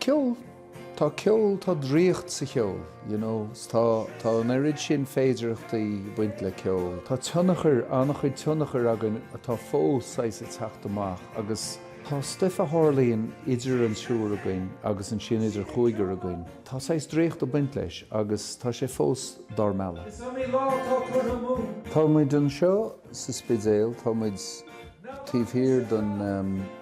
Ceol, tá ceol, tá draíocht sa cheol, you know, 's tá, tá an oiread sin féidearthachtaí ag baint le ceol. Tá tionchar, an-chuid tionchar againn atá fós saghas ag teacht amach agus tá stuif a tharlaíonn idir an triúr againn agus ansin idir an cúigear againn, tá saghas draíocht ag baint leis agus tá sé fós dár mealladh. Tá muid anseo sa Spidéal, tá muid. Taobh thiar den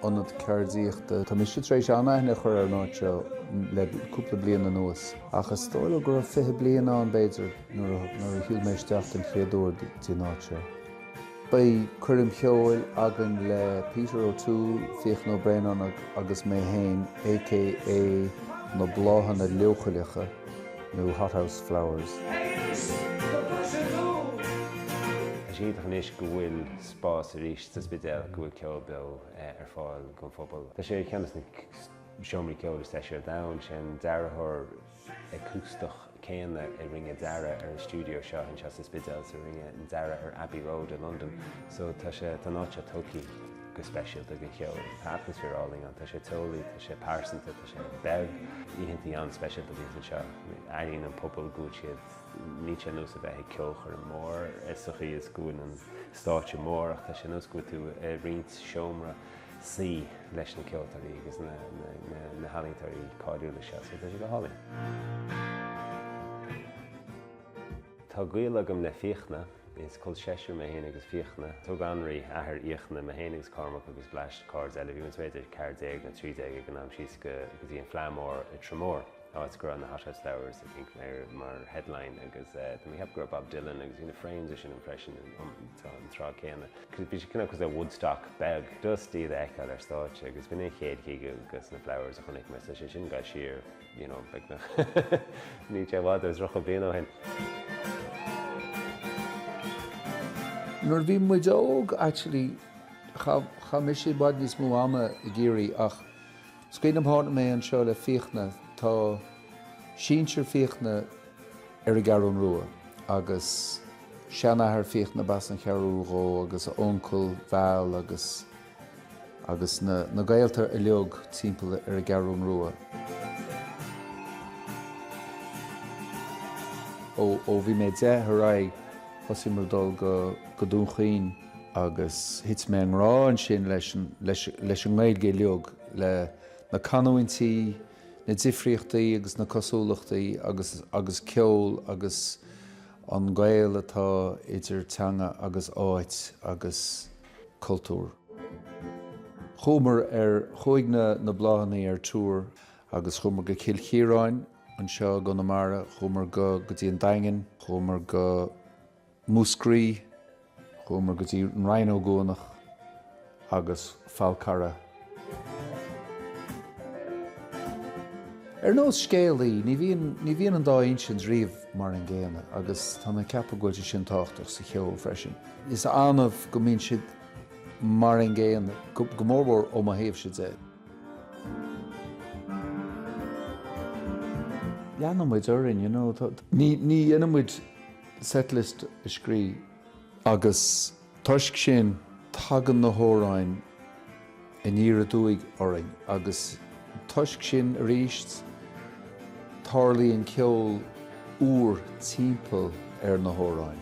ionad ceardaíochta, tá mise th'éis an-aithne a chur ar an áit seo le cúpla bliain anuas. Ach is dóigh liom go raibh fiche bliain ann, b'fhéidir, nuair a shiúil mé isteach den chéad uair go dtí an áit seo. Beidh coirm cheoil againn le Peter O'Toole, Fiachna Ó Braonáin agus mé féin, aka Na Bláthanna Leochaileacha, nó Hothouse Flowers. Is iontach anois go bhfuil spás arís sa Spidéal go bhfuil ceol beo ar fáil don phobal. Tá sé ar cheann de na seomraí ceoil is deise ar domhan, sé an dearthóir acústach céanna a rinne dearadh ar an stiúideo seo anseo sa Spidéal is a rinne an dearadh ar Abbey Road i Londain, so tá sé tá an áit seo tógtha go speisialta do cheol. Tá atmaisféar álainn ann, tá sé teolaí, tá sé pearsanta, tá sé beag, oícheantaí an-speisialta bhíos anseo, airíonn an pobal go bhfuil siad Níl sé ar nós a bheith ag ceolchoirm mhór sa chaoi is go bhfuil an stáitse mór ach tá sé ar nós go bhfuil tú ag roinnt seomra suí leis na ceoltóirí agus na healaíontóirí cáiliúla seo so tá sé go hálainn. Tá gaol agam le Fiachna, is col seisear mé féin agus Fiachna. Thug Anraí, athair Fhiachna, mé féin agus Cormac agus Blaise, cairde eile, bhíomar b'fhéidir 14 nó 13 ag an am síos go dtí an Fleadh Mór i dTrá Mhór. Áit go raibh na Hothouse Flowers, I think, ar mar headline agus déarfainn go raibh Bob Dylan agus bhí na Frames is sin ann freisin an tráth céanna. Bhí sé cineál cosúil le Woodstock beag. Just iad a fheiceáil ar stáitse agus b'in an chéad gig ag na Flowers a chonaic mé so sé sin ag goil siar, you know, beagnach níl sé i bhfad as tríocha bliain ó shin. Nuair a bhí muid óg, actually, chaith mise i bhfad níos mó ama i gCiarraí ach Is cuimhin liom tháinig mé anseo le Fiachna. Tá sinsir Fhiachna ar an gCeathrú Rua agus seanathair Fhiachna b'as an Cheathrú dhó agus a uncail, Val, agus agus na na gaolta uilig timpeall ar an gCeathrú Rua. Ó bhí mé deich ar aghaidh thosaigh mé ag dul go go Dún Chaoin. agus thit mé i ngrá ansin leis an nGaeilge uilig, le na canúintí, na difríochtaí agus na cosúlachtaí agus agus ceol agus an gaol atá idir teanga agus áit agus cultúr. Chuamar ar, chuaigh na na Bláthannaí ar tour agus chuamar go Cill Chiaráin anseo i gConamara, chuamar go go dtí an Daingean, chuamar go Múscraí. Chuamar go dtí An Rinn Ó gCuanach agus Falcarragh. Ar nós scéalaí, ní bhíonn, ní bhíonn an dá insint riamh mar an gcéanna agus tá mé ag ceapadh go bhfuil sé sin tábhachtach sa cheol freisin. Is annamh go mbíonn siad mar an gcéanna, go mórmhór ó mo thaobhsa de. Leanann muid orainn, you know, tá, ní, ní dhéanann muid setlist a scríobh. Agus toisc sin, tagann na hamhráin aniar aduaidh orainn agus toisc sin arís, tarlaíonn ceol úr timpeall ar na hamhráin.